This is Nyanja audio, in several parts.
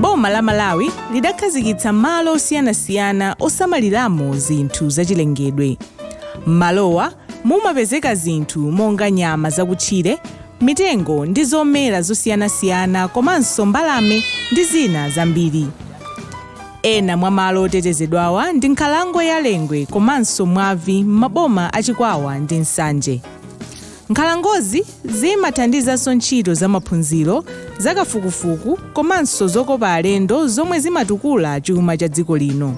boma la malawi lidakhazikitsa malo osiyanasiyana osamaliramo zinthu zachilengedwe m'malowa mumapezeka zinthu monga nyama zakutchire mitengo ndi zomera zosiyanasiyana komanso mbalame ndi zina zambiri Ena mwa malo otetezedwawa ndi nkhalango ya Lengwe komanso Mwavi m'maboma a Chikwawa ndi Nsanje. Nkhalangozi zimathandizanso ntchito za maphunziro, za kafukufuku komanso zokopa alendo zomwe zimatukula chuma cha dziko lino.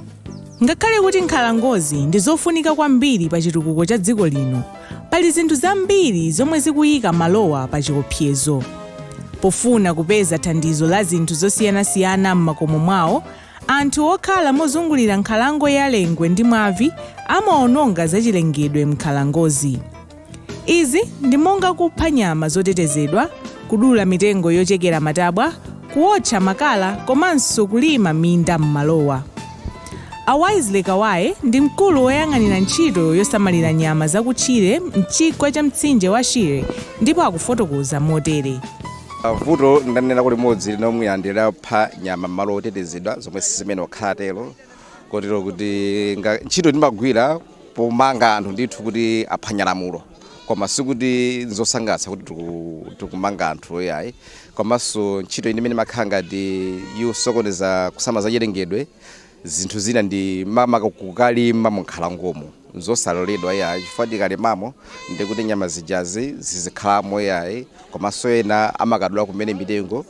Ngakhale kuti nkhalangozi ndi zofunika kwambiri pa chitukuko cha dziko lino, Pali zinthu zambiri zomwe zikuyika malowa pachiopsezo. Pofuna kupeza thandizo la zinthu zosiyanasiyana m'makomo mwawo, anthu okhala mozungulira nkhalango ya Lengwe ndi Mwavi amaononga zachilengedwe m'nkhalangozi. Izi ndi monga kupha nyama zotetezedwa, kudula mitengo yochekera matabwa, kuwotcha makala komanso kulima minda m'malowa. A Wisely Kawaye ndi mkulu woyang'anira ntchito yosamalira nyama zakutchire m'chigwa cha mtsinje wa Shire ndipo akufotokoza motere. Vuto ndanenako limodzi lomwe ndi lopha nyama m'malo otetezedwa zomwe siziyenera kukhala tero kotero kuti ntchito timagwira pomanga anthu ndithu kuti aphwanya lamulo. koma sikuti nzosangalatsa kuti tiku- tikumanga anthu yayi komanso ntchito ina imene imakhala ngati yosokoneza kusamala zachilengedwe zinthu zina ndi makamaka kukalima munkhalangomo nzosaloledwa yayi chifukwa tikalimamo ndi kuti nyama zijazi zizikhalamo yayi komanso ena amakadula kumene mitengo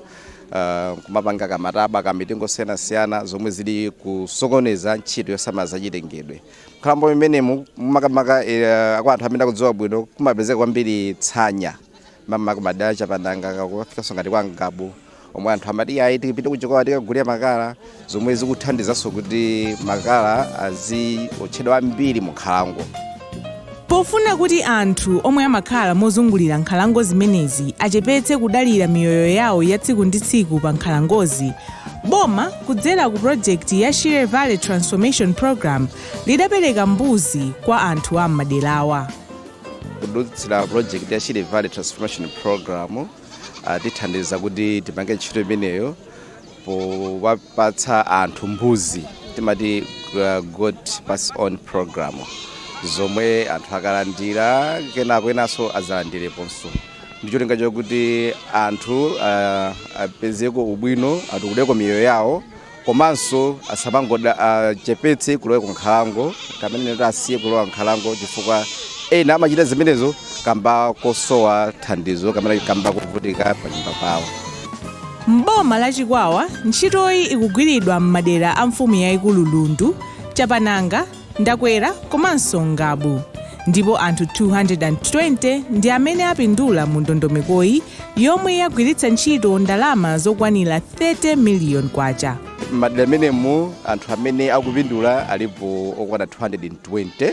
Uh, kumapanga kamatabwa kamitengo osiyanasiyana zomwe zili kusokoneza ntchito yosamala zachilengedwe Nkhalango imenemu makamaka eh, kwa anthu amene akudziwa bwino kumapezeka kwambiri tsanya makamaka kumadera chapananga kukafikanso ngati kwa Ngabu omwe anthu amati ayi tipite ku Chikwawa tikagule makala zomwe zikuthandizanso kuti makala aziotchedwa ambiri mu nkhalango Pofuna kuti anthu omwe amakhala mozungulira nkhalango zimenezi achepetse kudalira miyoyo yawo ya tsiku ndi tsiku pa nkhalangozi, boma kudzera ku pulojekiti ya Shire Valley Transformation Programme lidapereka mbuzi kwa anthu a m'maderawa. Kudutsira pulojekiti ya Shire Valley Transformation Programme atithandiza kuti tipange ntchito imeneyo powapatsa anthu mbuzi timati uh, goat pass on program zomwe anthu akalandira kenako enanso azalandireponso ndi cholinga chakuti anthu uh, apezeko ubwino atukudeko miyoyo yawo komanso asamangoda achepetse kulowa ku nkhalango kamene kuti asiye kulowa nkhalango chifukwa ena amachita zimenezo kamba kosowa thandizo kamene kamba kovutika panyumba pawo M'boma la Chikwawa, ntchitoyi ikugwiridwa m'madera a mfumu yaikulu Lundu, Chapananga, Ndakwera komanso Ngabu ndipo anthu 220 ndi amene apindula mu ndondomekoyi yomwe yagwiritsa ntchito ndalama zokwanira 30 miliyoni kwacha. M'madera amenemu anthu amene akupindula alipo okwana 220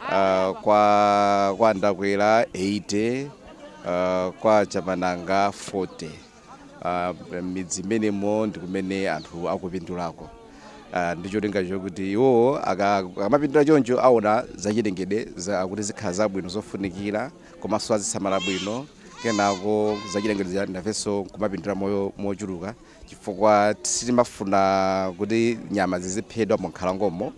uh, kwa kwa ndakwera 80 uh, kwa chapananga 40 uh, midzi imenemo ndi kumene anthu akupindulako uh, ndi cholinga chokuti iwo aka- akamapindula choncho aona zachilengedwe za- kuti zikhala zabwino zofunikira komanso azisamala bwino kenako zachilengedwe za- nafenso kumapindula mochuluka chifukwa sitimafuna kuti nyama ziziphedwa munkhalangomo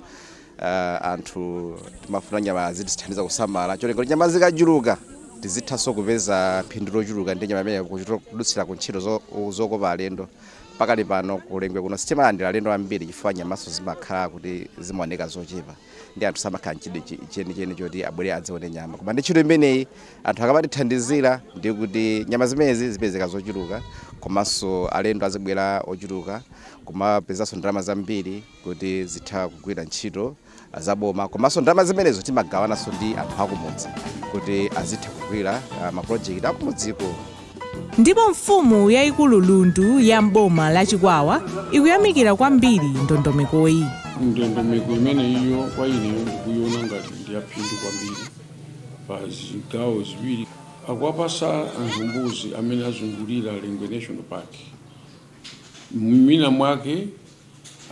Uh, anthu timafuna nyamazi azitithandiza kusamala cholinga kuti nyama zikachuluka tizithanso kupeza phindu lochuluka ndi nyama imeneyo kudutsira ku ntchito zo- zokopa alendo pakali pano ku Lengwe kuno sitimalandira alendo ambiri chifukwa nyamanso zimakhala kuti zimaoneka zochepa ndi anthu samakhala nchidwi chi- chenicheni choti abwere adzaone nyama koma ndi ntchito imeneyi anthu akamatithandizira ndi kuti nyama zimenezi zipezeka zochuluka komanso alendo azibwera ochuluka kumapezanso ndalama zambiri kuti zitha kugwira ntchito zaboma komanso ndalama zimenezo timagawananso ndi anthu akumudzi kuti azitha kugwira ah, mapulojekiti akumudziko ndipo mfumu yayikulu lundu ya m'boma la chikwawa ikuyamikira kwambiri ndondomekoyi ndondomeko imeneyo kwa ineyo ndikuyiona ngati ndiyaphindu kwambiri pa zigawo ziwiri akuwapasa anthu mbuzi amene azungulira lengwe national park mwina mwake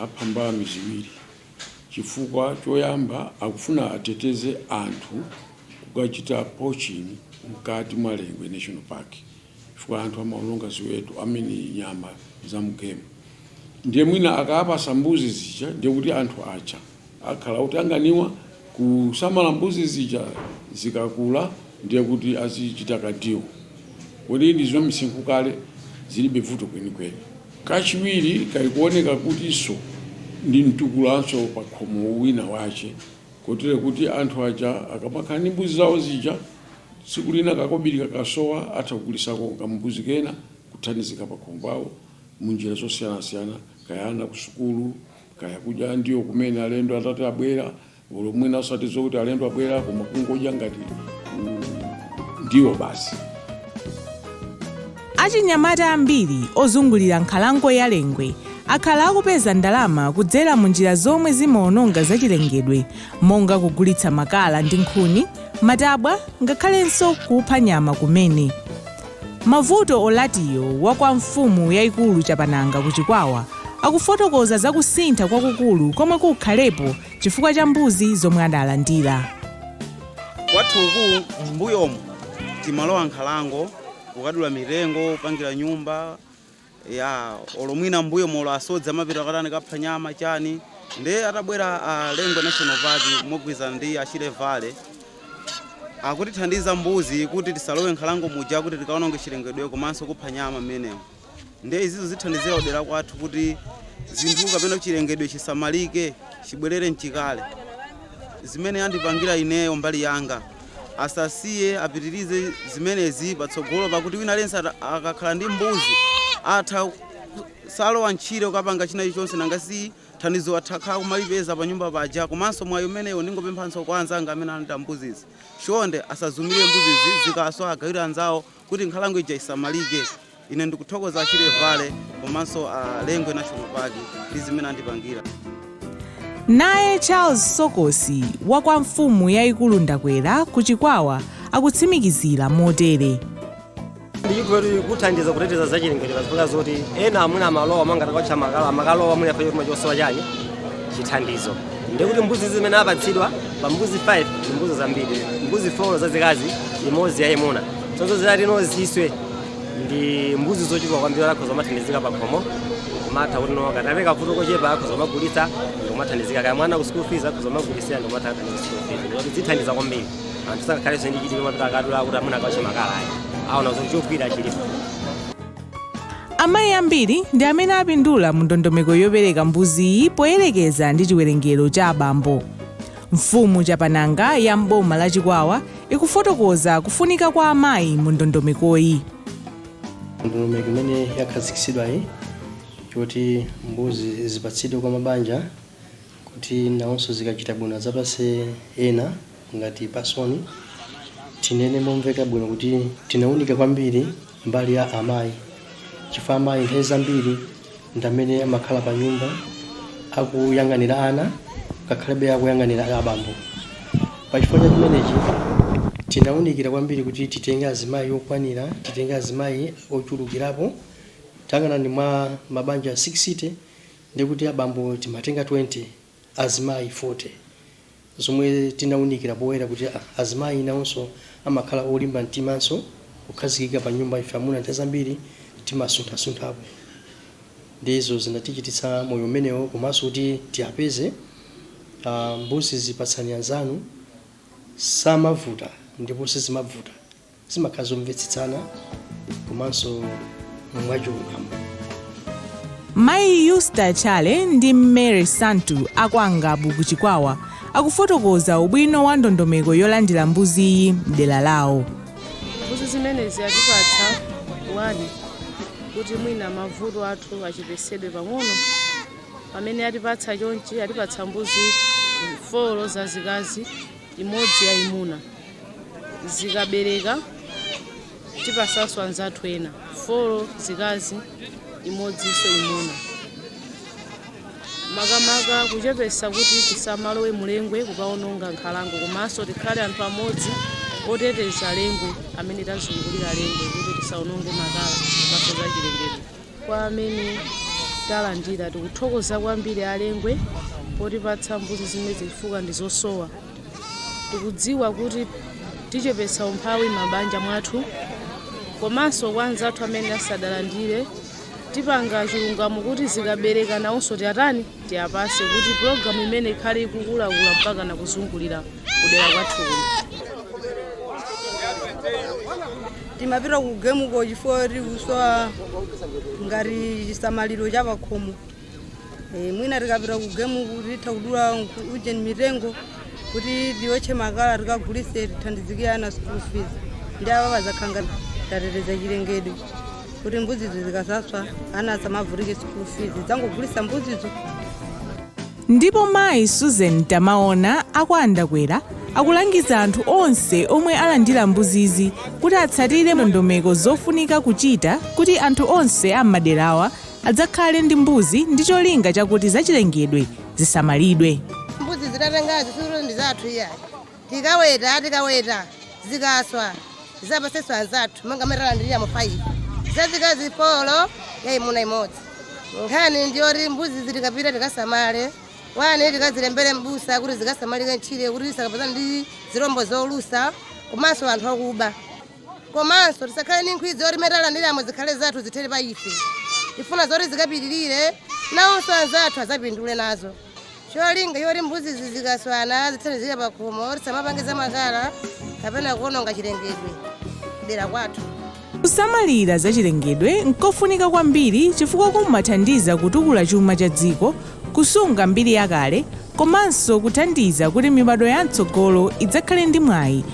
apha mbalame ziwiri chifukwa choyamba akufuna ateteze anthu kukachita poaching mkati mwa Lengwe National Park chifukwa anthu amaononga ziweto amene nyama za mgemu ndiye mwina akaapasa mbuzi zija ndiye kuti anthu aja Akhala otanganiwa kusamala mbuzi zija zikakula ndiye kuti azichita kandiwo poti ndi zamisinkhu kale zilibe vuto kwenikweni. Kachiwiri kali kuoneka kutinso ndi mtukulanso pakhomo wina wache kotero kuti anthu aja akamakhala ndi mbuzi zawo zija tsiku lina kakobiri kakasowa atha kugulisako kambuzi kena kuthandizika pakhomo pawo munjira zosiyanasiyana kaya ana kusukulu, Kaya kudya ndiwo kumene alendo atati abwera, olo mwina osati zokuti alendo abwera koma kungodya ngati ndiwo basi. Achinyamata ambiri ozungulira nkhalango ya Lengwe akhala akupeza ndalama kudzera mu njira zomwe zimaononga zachilengedwe monga kugulitsa makala ndi nkhuni, matabwa ngakhalenso kupha nyama kumene. Mavuto Olatiyo wa kwa Mfumu Yaikulu Chapananga ku Chikwawa akufotokoza za kusintha kwakukulu komwe kukhalepo chifukwa cha mbuzi zomwe adalandira. Kwathu uku m'mbuyomu timalowa m'nkhalango kukadula mitengo, kupangira nyumba, Eya, olo mwina m'mbuyomu olo asodzi amapita kukatani, kukapha nyama, chani. Ndiye atabwera a Lengwe National Park mogwirizana ndi a Shire Valley, akutithandiza mbuzi kuti tisalowe m'nkhalango muja kuti tikaononge chilengedwe komanso kupha nyama mmenemo. Ndiye izizo zithandizira kudera kwathu kuti zinthu kapena chilengedwe chisamalike, chibwerere m'chikale. Zimene andipangira ineyo mbali yanga. Asasiye apitirize zimenezi patsogolo pakuti wina aliyense akakhala ndi mbuzi atha osalowa m'tchire kukapanga china chilichonse nanga si thandizo athakhala kumalipeza pa nyumba paja komanso mwayi umenewo ndingopemphanso kwa anzanga amene analandira mbuzizi chonde asaziumire mbuzizi zikaswa agawire anzawo kuti nkhalango ija isamalike. Ine ndikuthokoza a Shire Valley komanso a Lengwe National Park ndi zimene andipangira. Naye Charles Sokosi wa kwa mfumu yayikulu Ndakwera ku Chikwawa akutsimikizira motere. Ndi zikuthandiza kuteteza zachilengedwe pazifukwa zoti ena amuna amalowa mwina kukawotcha makala amakalowa mwina chifukwa chosowa chani chithandizo ndiye kuti mbuzi zimene apatsidwa pa mbuzi 5 ndi mbuzi zambiri mbuzi 4 zazikazi imodzi yayimuna zonse zitati no ziswe ndi mbuzi zochuluka kwambiri akhoza kumathandizika pa khomo kumatha kuti no katapezeka kavuto kochepa akhoza kumagulitsa ndi kumathandizika kaya mwana ku school fees akhoza kumagulitsa ndi kumatha kuthandiza school fees ndikuti zithandiza kwambiri anthu sangakhalenso ndi chidwi kumapita akadula kuti amuna akawotche makala ayi aona kuti chogwirira chilipo Amayi ambiri ndi amene apindula mu ndondomeko yopereka mbuziyi poyerekeza ndi chiwerengero cha abambo. Mfumu Chapananga ya m'boma la Chikwawa ikufotokoza kufunika kwa amayi mu ndondomekoyi. Ndondomeko imene yakhazikitsidwayi yoti mbuzi zipatsidwe kwa mabanja kuti nawonso zikachita bwino adzapatse ena. Ngati Pasoni, tinene momveka bwino kuti tinaunika kwambiri mbali ya amayi chifukwa amayi nthawi zambiri ndi amene amakhala pa nyumba akuyang'anira ana ngakhale kuyang'anira abambo. Pa chifukwa cha chimenechi tinaunikira kwambiri kuti titenge azimayi okwanira, titenge azimayi ochulukirapo. Tayang'anani mwa mabanja 60 ndiye kuti abambo timatenga 20. azimayi 40 zomwe tinaunikira poyera kuti azimayi nawonso amakhala olimba mtimanso kukhazikika pa nyumba ife amuna nthawi zambiri timasunthasunthapo ndizo zinatichititsa moyo umenewo komanso kuti tiapeze uh, mbuzi zipatsani anzanu samavuta ndipo sizimabvuta zimakhala zomvetsetsana komanso mwachilungamo mayi yusta chale ndi mary santu a kwa ngabu ku chikwawa akufotokoza ubwino wa ndondomeko yolandira mbuziyi mdera lawo mbuzi zimenezi atipatsawa ndi kuti mwina mavuto athu achepesedwe pang'ono pamene atipatsa chonchi atipatsa mbuzi folo zazikazi imodzi yayimuna. Zikabereka tipasanso anzathu ena 4 zikazi imodzinso imuna. Makamaka kuchepetsa kuti tisamalowe mu Lengwe kukawononga nkhalango komanso tikhale anthu amodzi oteteza Lengwe amene tazungulira Lengwe kuti tisawononge makala komanso zachilengedwe. kwa amene talandira. Tikuthokoza kwambiri a Lengwe potipatsa mbuzi zimenezi chifukwa ndi zosowa. Tikudziwa kuti tichepetsa umphawi m'mabanja mwathu komanso kwa anzathu amene asadalandire. Tipanga chilungamo kuti zikabereka nawonso tiatani? Tiapatse kuti pulogalamu imeneyi ikhale ikukulakula mpakana kuzungulira kudera kwathu timapita ku gemuko chifukwa tikusowa ngati chisamaliro cha pakhomo Eh, mwina tikapita ku gemuku titha kudula nkhu- ujeni mitengo kuti tiotche makala tikagulise tithandizike ana school fees ndiye apa pazakhala ngati tateteza chilengedwe kuti mbuzizo zikasaswa ana asamavutike school fees zangogulisa mbuzizo Ndipo mayi Susan Tamaona a kwa Andakwera akulangiza anthu onse omwe alandira mbuzizi kuti atsatire ndondomeko zofunika kuchita kuti anthu onse a m'maderawa adzakhale ndi mbuzi ndi cholinga chakuti zachilengedwe zisamalidwe. mbuzi zitatengazi sikuti ndi zathu iyayi Tikaweta, tikaweta, zikaswa, tizapasenso anzathu monga mmene talandiliramo 5. Zazikazi folo, yaimuna imodzi. Nkhani ndi yoti mbuzizi tikapita tikasamale, 1 tikazilembere m'busa kuti zikasamalike ntchire kuti zisakapezane ndi zilombo zolusa komanso anthu akuba. Komanso tisakhale ndi nkhwidzi yoti zimene talandiramo zikhale zathu zithere pa ife. Tifuna zoti zikapitirire, nawonso anzathu adzapindule nazo. Cholinga choti mbuzizi zikaswana zithandizire pakhomo, tisamapange zamakala kapena kuwononga chilengedwe dera kwathu. Kusamalira zachilengedwe n'kofunika kwambiri chifukwa kumathandiza kutukula chuma cha dziko, kusunga mbiri yakale, komanso kuthandiza kuti mibadwo yam'tsogolo idzakhale ndi mwayi